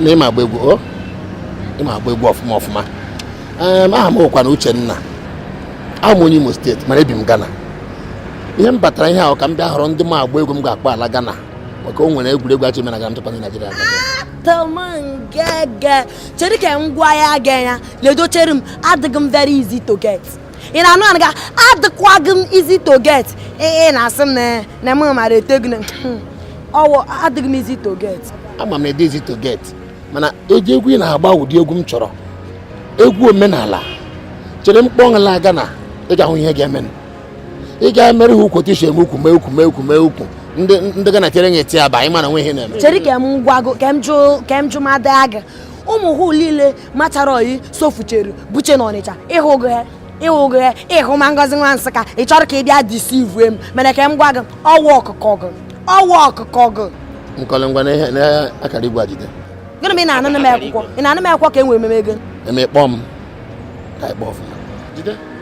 na ịma agba egwu o ịma agba egwu ọfụma ọfụma Em, aha m wụkwanụ uchenna awụ m onye imo steeti mana ebi m Ghana ihe m batara ihe ahụ ka m bịa họrọ ndị ma agba egwu m ga-akpọ ala Ghana maka o nwere egwuregwu a chọ ime na Ghana m chọkwa ndị naijiria aga. Atụ m ngege. Chere ka m gwa ya aga ya. Ledochere m adịghị m very easy to get. ị na-anụ anụ ga adịkwaghị m easy to get ị na-asị m na m mara eto gị ọ wụ adịghị m easy to get ama m adị easy to get mana ụdị egwu ị na-agba ụdị egwu m chọrọ egwu omenala chere m kpọ gị laa Ghana ị ga-ahụ ihe ga-eme ị ga-emere ha ukwu otu i shi eme ukwu mee ukwu mee ukwu mee ukwu ndị Ghana tere nye eti aba anyị mana nwe ihe na-eme chere ka m gwago ka m jụ ka m jụ ma daa gị ụmụ hụ niile matarọyi sofucheru buche na ọnịcha ịhụgo ya ịhụgo ya ịhụ ma ngozi nwa nsụka ị chọrọ ka ị bịa deceive m mana ka m gwa gị ọwa ọkụkọ gị ọwa ọkụkọ gị nkọlị ngwa na akara igwe ejide gịnị ma ị na-anụ m akwụkwọ ị na-anụ m akwụkwọ ka e nwere ememe ego emekpọ m ka ịkpọ ọfụma jide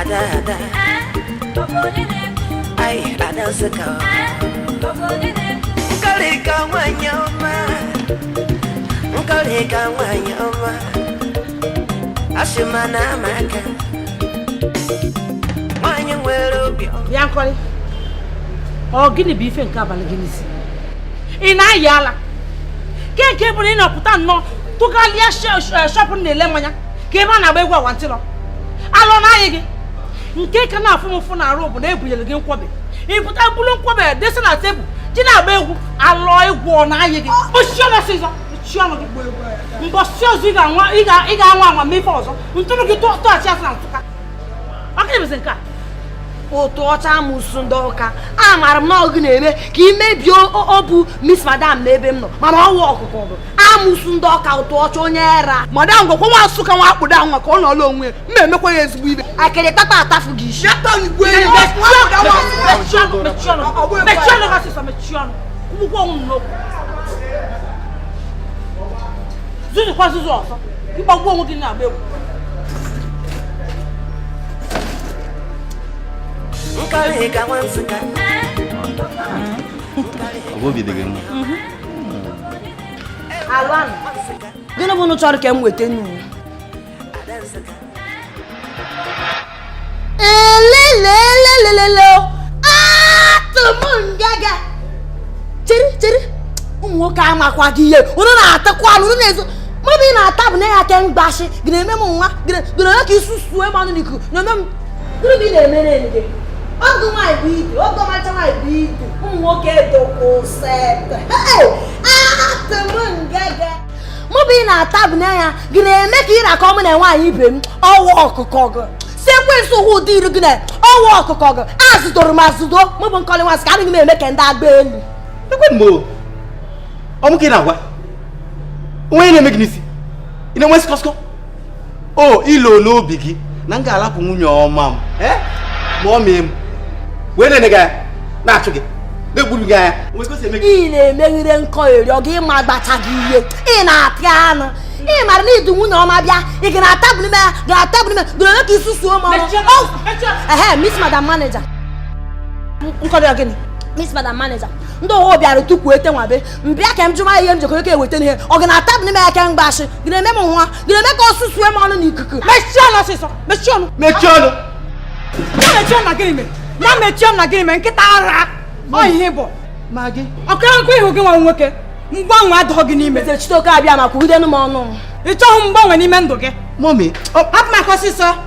ada ada ai ada nsụka nkọlịka nwanyị ọma nkọlịka nwanyị ọma asị ma na amaka nwanyị nwere obi ọma bịa nkọlị ọ gịnị bụ ife nke a balụ gị n'isi ị na-ayị ala kee nke bụ na ị na-apụta nnọọ tụgharịa shop na-ele mmanya ka ebe a na-agba egwu awantịlọ alụ na-anyị gị nke ka na-afụ m ụfụ n'arụ bụ na e bunyere gị nkwọbị ị pụta buru nkwọbị desi na tebụl jee na-agba egwu alụ egwu ọ na-anyị gị kpochie ọnụ ọsịsọ kpochie ọnụ gị mbọsị ọzọ ị ga-anwa anwa ma ife ọzọ ntụrụ gị tọọchị asị na ntụka ọka ebezi nke a ụtụ ọcha amụsụ ndị ọka amaara m na ọ gị na-eme ka ị mebie obi miss madam n'ebe m nọ mana ọwụ ọkụkọ bụ amụsụ ndị ọka ụtụ ọcha onye ara madam gwakwa nwa nsụka nwa akpụdo ahụ maka ọ nọọla onwe ma emekwa ya ezigbo ibe akịrị tata atafụ gị isi zuzukwa zuzu ọzọ ịgbagbuo onwe gị na-agba egwu ọ bụ obi dị gị mma gịnị bụ unu chọrọ ka m weta nnu elelelelelelo atụ m ngege chere chere ụmụ nwoke amakwaghị ihe unu na-atakwa anụ unu na-ezo mmadụ ị na-ata bụ na ya aka mgbashi gị na-eme m nwa gị na-eme ka i susue m ọnụ n'ikuku na-eme m gịnị na-emere gị ọgụ nwaanyị bụ idu ọgụ ọmacha nwaanyị bụ idu ụmụ nwoke edokwụsịtụ atụmngege mụ bụ ị na-ata bụ n'anya gị na-eme ka ị na-akọ mụ na nwaanyị ibe m ọwa ọkụkọ gị sekwensi ụwa ụdị iru gị na ọwa ọkụkọ gị azụdoro m azụdo mụ bụ nkọlị nwa nsụka adịghị m eme ka ndị agba elu ọ mụ ka ị na-agwa o nwe ihe na-eme gị n'isi ị na-enwe skọskọ o i loo n'obi gị na m ga-alapụ nwunye ọma m eh? ma ọ mee m wee na-ene gị anya na-achụ gị na-egburu gị anya ị na-emeghịre nkọlị ọ gị ịma agbacha gị ihe ị na-apịa anụ ị mara na idu nwunye ọma bịa ị ga na-ata bụ n'ime ya ga na-ata bụ n'ime doro ole ka isu suo m ọnụ ehe miss madam manager nkọlị ọ gịnị miss madam manager ndị ọhụụ bịara tupu ete nwabe m bịa ka m jụọ ma ihe m jekọrọ ka e weta ihe ọ ga na-ata bụ n'ime ya ka m gbashi gị na-eme m nwa ga-eme ka ọsụsụ eme ọnụ n'ikuku mechie ọnụ ọsịsọ mechie ọnụ mechie ọnụ ya mechie ọnụ na gịnị mere ya mechie ọnụ na gịnị mere nkịta ara ọ ihe bụ ma gị ọkụ nkwa ị hụ gị nwa nwoke mgbanwe adịghị gị n'ime chitoke abịa ma kwugidenu m ọnụ ị chọghị mgbanwe n'ime ndụ gị mọmi hapụ m aka ọsịsọ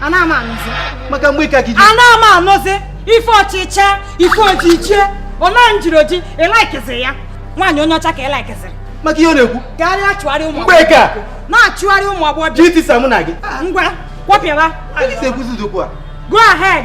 ana m anụzi maka mgbeke gị ji ana m anụzi ife ọchịcha ife ojichie ọma njiri oji ị likeziri ya nwaanyị onye ọcha ka ị likeziri maka ihe ọ na-ekwu ka ị na-achụgharị ụmụ mgbeke na-achụgharị ụmụ agbọghọ ji etisa mụ na gị ngwa kwọpịaba Anyị si ekwuzi okwu a go ahead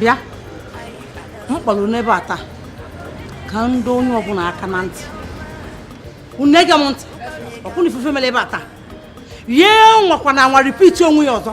bịa m kpọrọ unu ebe a taa ka m dọọ onye ọbụla aka na ntị unu ege m ntị ọkwụna ifufe mere ebe a taa ya anwakwana anwa repeat onwe ya ọzọ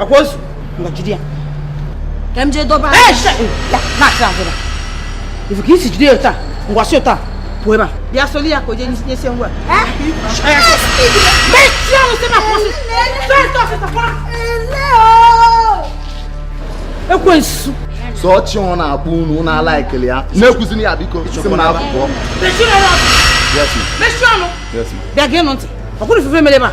akwaozu ngwa jide ya ka m jee dọba ifu ka i si jide ya taa ngwa si ụta pụọ ebe a bịa soli ya ka o jee nyesie ngwa ekwensu sọ chi ọ na-akpọ unu na ala ekele ya na-ekwuzini ya biko si m n'ebe a pụọ bịa geenụ ntị ọ kwụrụ ifufe mere ebe a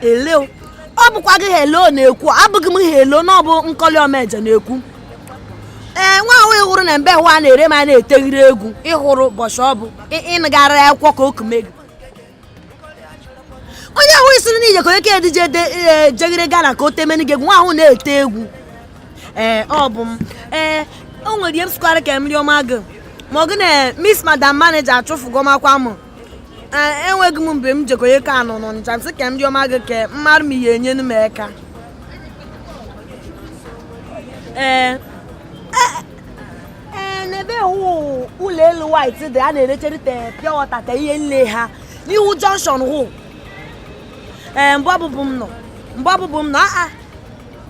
ele o. ọ bụkwa gị helen na-ekwu abụghị m helen ọ bụ nkọlị omeje na-ekwu ee nwa ahụ ị hụrụ na mbe ahụ a na-ere ma a na-eteghịrị egwu ị hụrụ bọchị ọ bụ ị- ị nagara ya akwụkwọ ka okume gị onye ahụ i siri n'ije ka onye ka edije jeghere gana ka o temeni gị egwu nwa ahụ na-ete egwu ee ọ bụ m ee o nwere ihe m sịkwara ka mmiri ọma gị ma ọ gị na miss madam manager achụfụgo makwa m enweghị m ebe m jekonye ka anọ n'ọnịcha m sị ka ndị ọma gị kee mmadụ m ihe enyenu m eka ee e, e, n'ebe ụlọ elu white dị a na-erechere te pure water te ihe nle ha n'ihu junction hụ ee mgbe ọbụbụ m nọ mgbe ọbụbụ m nọ aa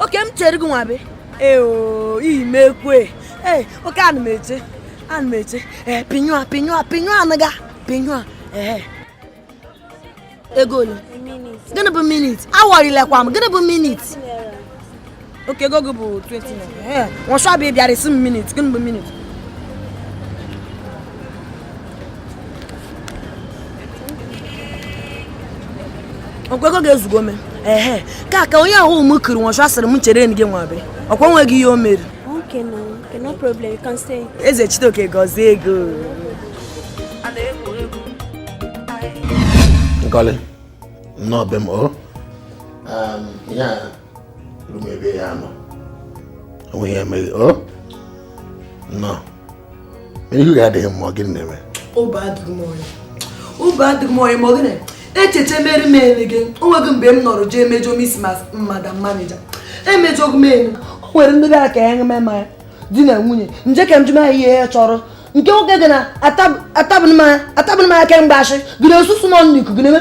okay m chere gị nwabe eo iyi m ekwe ee okay ana m eche ana m eche ee pinyu a pinyu a pinyu a naga pinyu a ee ego ole gịnị bụ minute awọrilekwa m gịnị bụ minute okay ego gị bụ 20 naira nwụshabụ ị bịara ịsị m minute gịnị bụ minute ọkwa ego gị ezugo me ehe ka ka onye ahụ m kwuru nwọchụ asịrị m chere gị nwabe ọkwa nweghị ihe o mere Ezechitoke gọzie gị o Nkọli nnọọ be m o um, ebe ya nọ onwe ya emeghị o nọ ihu ya adịghị mma gị na-eme obi adịghị m ọyị obi adịghị m ọyị ma ọ gị na-echeche mere m ele gị o nweghị mgbe m nọrọ jee mejọ miss madam manager emejọghị m elu o nwere ndị gara ka ya ṅeme ya di na nwunye nje ka m jụma ya ihe ya chọrọ nke nwoke gị na atabụnụ m aka mgbe ashị gị na osusu nọ n'ikuku na-eme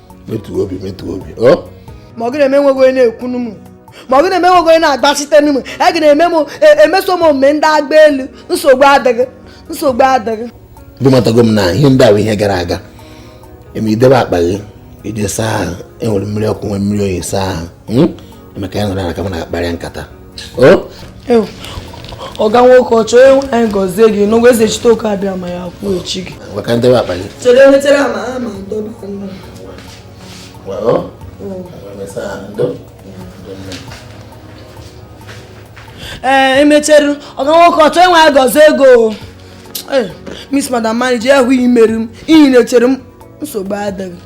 metuo obi metuo obi ma ọ gị na-eme nweghị onye na-ekwu ọnụ m ma ọ gị na-eme nweghị onye na-agbachite ọnụ m a e gị na-eme m e, emeso m omume ndị agba elu nsogbu adịghị nsogbu adịghị ndị matago m na ihe ndị ahụ ihe gara aga e mee i debe akpa gị i je saa ahụ e nwere mmiri ọkụ nwee mmiri oyi saa ahụ hmm? emeka ya nọrọ na ka m na-akparịa nkata ọga nwoke o Chi nwe anyị gọzie gị n'ụgwọ Ezechitoke Abịama ya kwụchie gị maka ndị akpa gị chere emetere ama ha ma ndọba nwa ee emechere ọga nwoke o Chi nwe anyị gọzie gị o miss madam manager ya hụ i mere m ihe ị na-echere m nsogbu adịghị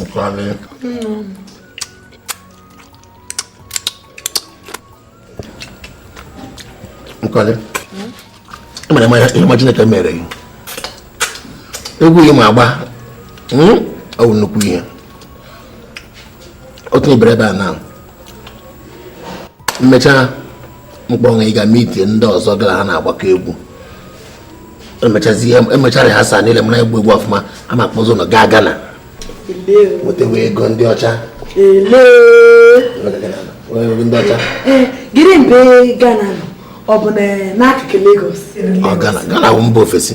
Nkwale. Nkwale. Ị mara ihe ọma Chineke mere gị. Egwu gị ma agba. Ọ bụ nnukwu ihe. Otu ibere ebe a na m mechaa m kpọwe ị gaa meet ndị ọzọ gị na ha na-agbakọ egwu emechara ha saa niile mara egwu egwu ọfụma a ma akpọzi unu gaa Ghana wetewe ego ndị ọcha ndị ọcha eh, gịnị mgbe Ghana ọ bụ n'akụkụ Lagos ọ Ghana Ghana bụ mba ofesi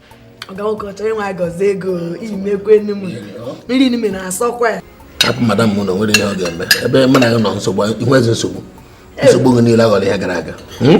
ọgaụkọchọ ịnwa agọzi ego imekwenu m nri nime na-asọkwa ya hapụ madam m na o nwere ihe ọ ga-eme ebe mụ na gị nọ nsogbu i nwezi nsogbu nsogbu gị niile aghọọla ihe gara aga hmm?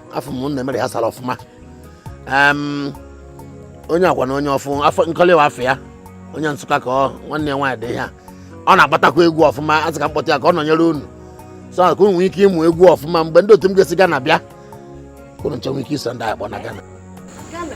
afụ m na mere ya sara ọfụma onye agwa na onye ọfụ afọ Nkọlị nwa afọ ya onye Nsụka ka ọ nwanne ya nwaanyị dị ihe a ọ na-agbatakwa egwu ọfụma a sị ka m kpọta ya ka ọ nọnyere unu so ka unu nwee ike ịmụ egwu ọfụma mgbe ndị otu m ga-esi Ghana bịa ka unu ncha nwee ike iso ndị a kpọ na Ghana Ghana.